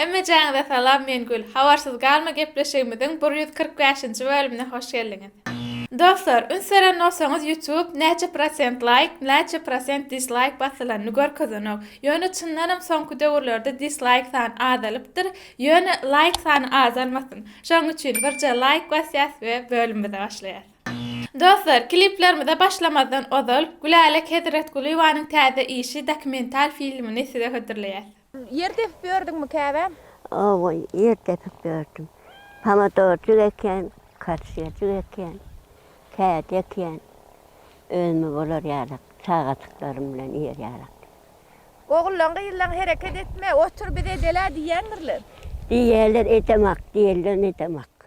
Hemmejäňize salam men Gül. Habarsyz galma gepleşigimiziň bir ýüz kyrk bäşinji bölümine hoş geldiňiz. Dostlar üns beren bolsaňyz YouTube näçe prosent laýk näçe prosent dislaýk basylanyny görkezenok. Ýöne çyndanam soňky döwürlerde dislaýk sany azalypdyr. Ýöne laýk sany azalmasyn. Şoň üçin birje laýk basýas we bölümimize başlaýas. Dostlar kliplerimize başlamazdan ozal Gülälek Hezretgulyýewanyň täze işi dokumental filmini size hödürleýäs. Ýer depip ýördüňmi käbä? Hawa, ýer depip ýördüm. Pomidorjyk ekýän, kartoşkajyk ekýän, kädi ekýän. Özüme bolar ýaly, çagajyklarym bilen ýer ýaly. Ogullaň-gyzlaň hereket etme, otur biz edel-ä diýýändirler? Diýýärler, edemok, diýenden edemok.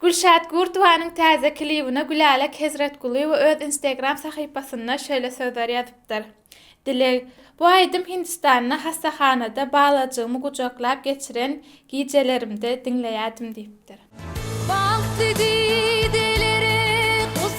Gülşat Gurtowanyň täze klibine Gülälek Hezretgulyýewa öz Instagram sahypasynda şeýle sözler ýazypdyr, Dileg, bu aýdym Hindistanda hassahanada balajygymy gujaklap geçiren gijelerimde diňleýärdim diýipdir. Bagt diýdi, dileri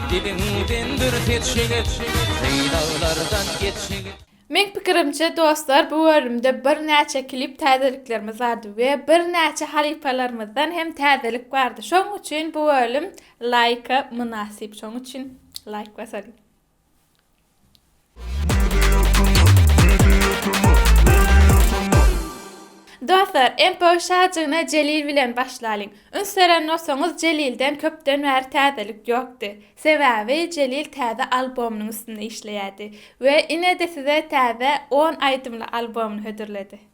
Diliňden bir seç ýigit, Sylaglardan geç ýigit. Meň pikirimçe dostlar bu bölümde bir näçe klip täzeliklerimiz bardy we bir näçe halypalarymyzdan hem täzelik bardy şoň üçin bu bölüm laýka mynasyp şoň üçin laýk basalyň. Dostlar, MPO şajygyna Jelil bilen başlalyň. Üns beren bolsaňyz, Jelilden köpden bäri täzelik ýokdy. Sebäbi Jelil täze albomynyň üstünde işleýärdi we ine-de size täze on aýdymly albomyny hödürledi.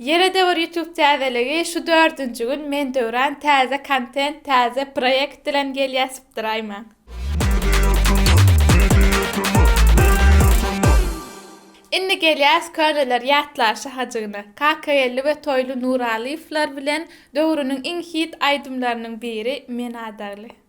Ýere döwür YouTube täzeligi şu dördünji gün men döwran täze kontent täze proýekt bilen gelýä sypdyraýmaň. Indi gelýäs köneler ýatlaşy hajygyna. Kakageldi we Toýly Nuralyýewler bilen döwrüniň iň hit aýdymlarynyň biri Men adagly.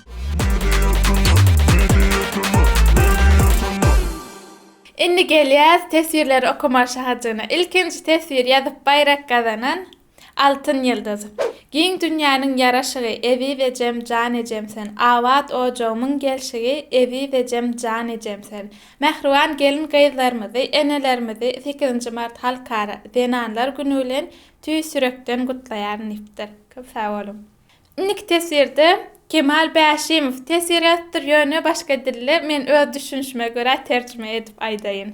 Indi gelýäs teswirleri okamaga şahajagyna. Ilkinji teswir ýazyp baýrak gazanan Altyn ýyldyz. Giň dünýäniň ýaraşygy, Eziz ejem, jan ejem sen. Abat ojagymyň gelşigi, Eziz ejem, jan ejem sen. Mähriban gelin-gyzlarymyzy, enelerimizi sekizinji mart Halkara zenanlar güni bilen tüýs ýürekden gutlaýaryn diýipdir. Köp sag boluň. Indiki teswirde Kemal Bäşimow teswir edipdir, ýöne başga dilde, men öz düşünişime görä terjime edip aýdaýyn.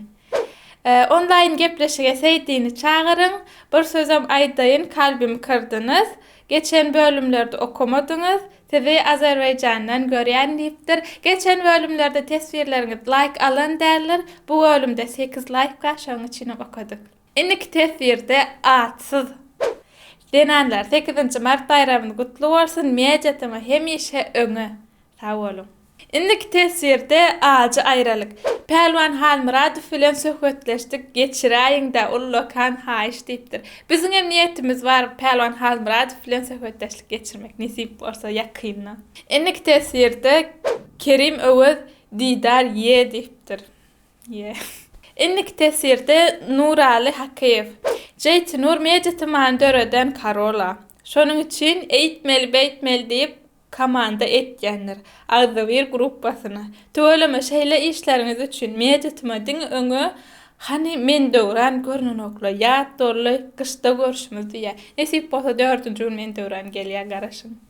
Onlaýyn gepleşige Seýdini çagyryň, bir sözem aýdaýyn, kalbymy kyrdyňyz, geçen bölümlerde okamadyňyz, sizi Azerbaýjandan görýän diýipdir. Geçen bölümlerde teswirleriňiz laýk alan däldir, bu bölümde sekiz laýk bar, şonuň üçinem okadyk. Indiki teswirde atsyz zenanlar sekizinji mart baýramyz gutly bolsun media tymy hemişe öňe sag boluň. Indiki teswirde ajy aýralyk. Pälwan Halmyradow bilen söhbetleşdik geçiräýiňdä ullakan haýyş diýipdir. Biziňem niýetimiz bar Pälwan Halmyradow bilen söhbetdeşlik geçirmek nesip bolsa ýakynda. Indiki teswirde Kerim Öwez Didar ýe diýipdir. Indiki teswirde Nuraly Hakyýew. Jeytinur Media tymany döreden Karola. Şonuň üçin eýtmeli beýtmeli diýip komanda etýändir. Agzybir gruppasyna. Tüweleme şeýle işleriňiz üçin Media tyma diňe öňe Hany men Döwran görnenokla ýat dolly gyşda görşümiz diýýä. Nesip bolsa dördünji gün men Döwran gelýä garaşyň.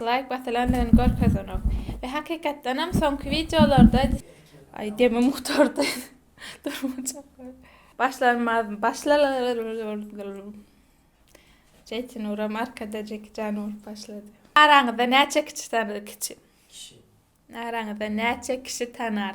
Laýk basylandygyny görkezenok. We hakykatdanam soňky wideolarda Aý demim gutardy. Durmajak. Başlanmaz başlalar. Jeýtinuram arkada Jeki Jany urup başlady. Araňyzda näçe kiçi tanar? Kiçi. Araňyzda näçe kişi tanar?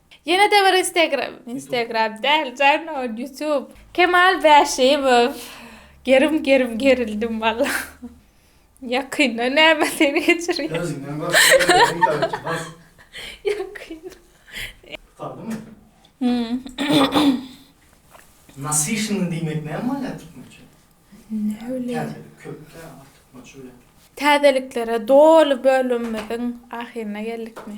Ýene-de bir Instagram, Instagram däl jana YouTube. Kemal Bäşimow gerim gerim gerildim walla. Ýakynda näme seni geçirýär. Özüňden gork özüňi tanat bas. Ýakynda. Saldymy? Nasişin diýmek näme bolýar türkmençe? Ne bileyim. Täzelik köpdä artykmaç öýdýän. Täzeliklere doly bölümimiziň ahyryna geldikmi?